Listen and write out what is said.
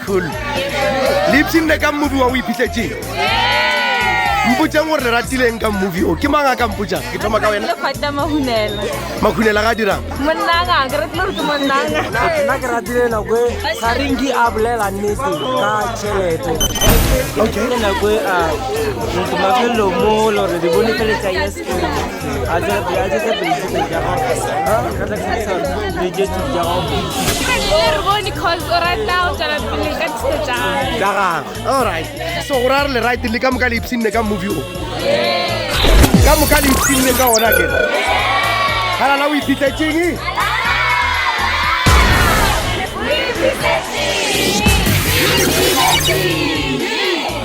tlholo le ipshinde ka mmobi wa o iphitletseng mpotsang gore le ratileng ka mmobi o ke mang a ka mpotsang ke thoma ka wena makhunela ga dirang nna ke ratile nako e ga renki a bolela nnete ka tšhelete nako e a mafelelo mo lore di bone feletsa yes so go ra re le right le ka moka le ipsinne ka movie o ka moka le ipsinne ka ona ke halala o iphitletseng Thank you.